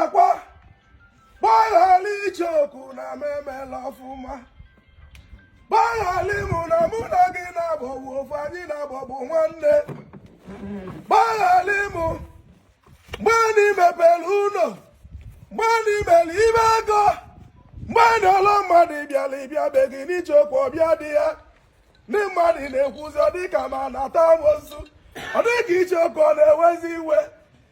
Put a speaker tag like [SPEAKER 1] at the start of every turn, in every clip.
[SPEAKER 1] akwa gbaghara Icheoku na m emela ọfụma gbaghara mụ na mụ na gị na-abụbu ofu anyị na-abụbu nwanne gbaghara mụ mgbe anyị mepere ụlọ mgbe anyị mere ife ego mgbe anyị ole mmadụ bịara abịa be gị n'Icheoku ọ bịa dị ya ndị mmadụ na-ekwuzi ọ dịka m na-ata amosu ọ dịka Icheoku ọ na-ewezi iwe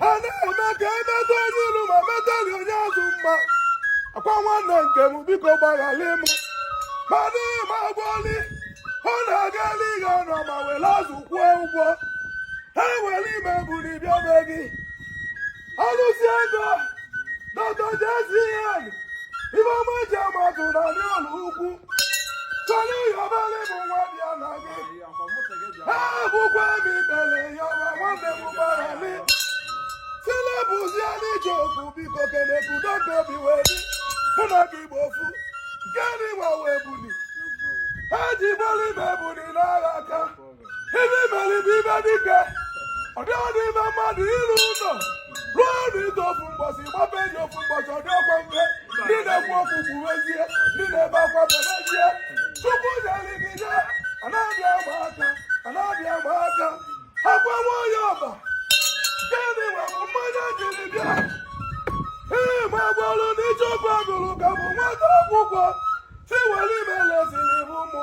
[SPEAKER 1] ha na-eme ka e meta onye ilu mma metali onye azụ mma akwa nwanne nke m biko gbaghalị m mana ị ma gboli ọ na-aga n'ihe ọnụ ma were azụ kwụọ ụgwọ ha were ime buru bịa be gị alụsi ego dọta jezien ibe ọma ji ama atụ na ndị ụlọ ukwu chọrọ ịyọbali bụ nwa bịa na gị egbukwa m ikpere yọba nwanne m gbaghara m silebụzie n'Icheoku biko ka e nwee udo ka obi wee dị mụ na gị bụ ofu nke anyị nwa wee buli ha ji bọlụ ime buli n'agha aka ibe i mere ibe ibe dike ọ dịghị n'ime mmadụ ịrụ ụlọ rụọ ọrụ ide ofu mbọchị gbaba enyi ofu mbọchị ọ dịrọkwa mfe ndị na-ekwu okwu kwuwezie ndị na-ebe akwa bebezie chukwu nyere gị ya anaghị agba aka anaghị agba aka akwa nwanyị ọba gịnị nwere mmanya jiri bịa ee ma gbalụ n'Icheoku agụrụ ka bụ nwata akwụkwọ si were ime leziri bụ ụmụ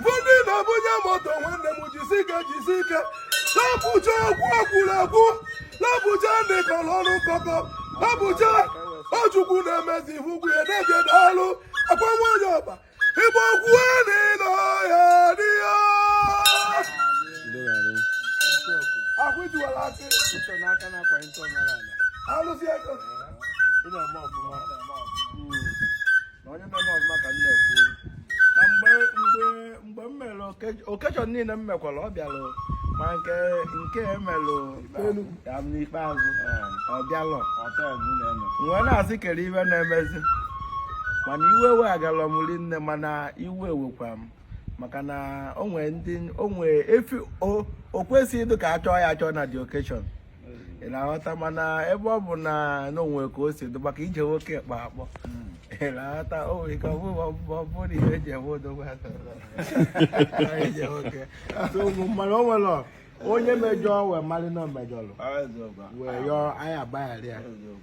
[SPEAKER 1] ndị na-ebunye moto nwanne m jisi ike jisi ike lapụcha okwu e kwuru ekwu lapụcha ndị kọrọ ọnụ nkọkọ lapụcha ọ Chukwu na-emezi ihu ugwu ya na-eje daalụ akwa nwanyị ọba igbo okwu a na ị nọ ya dị ya ahụ jiwara akị Ụtọ n'aka na-akwanye ntọ n'ala. alụsị ego Ị na-eme ọfụma.
[SPEAKER 2] na onye mere ọfụma ka m na-ekwu na mgbe mgbe mgbe m mere oke- occasion niile m mekwara ọ bịalụ ma nke nke emelụ ya m n'ikpeazụ ọ bịalụ wee na-asị kedu ife na-emezi mana iwe ewegarọ m rinne mana iwe wekwa m maka na o nwee ndị o nwee efi o o kwesịghị ịdụ ka a chọọ ya achọ na the occasion ị na-aghọta mana ebe ọ bụ na o nwee ka o si dị maka ije nwoke kpa akpọ ị na-aghọta o nwere ike ọ bụrụ ọ bụ- ọ bụrụ na ihe e ji enwe odogwu ha tọrọ ije nwoke So, mana o nwere onye mejọ wee mali na o mejọlụ wee yọọ anyị agbaghara ya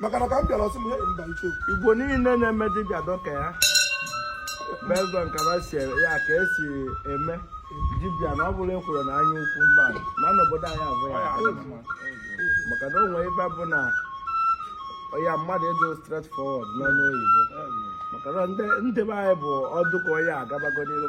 [SPEAKER 1] maka na ka m bịara ọ sị m hei mba iche igbo niile
[SPEAKER 2] na-eme dibịa dọka ya bezọ nkaba si ya ka e si eme dibịa na ọ bụla e kwuru na anya ukwu mba ma n'obodo anyị abụ ya maka na o nwere ebe bụ na ya mmadụ ịdụ straight forward n'ọnụ oyibo maka na ndị be anyị bụ ọ dụ ka onye agabago n'iru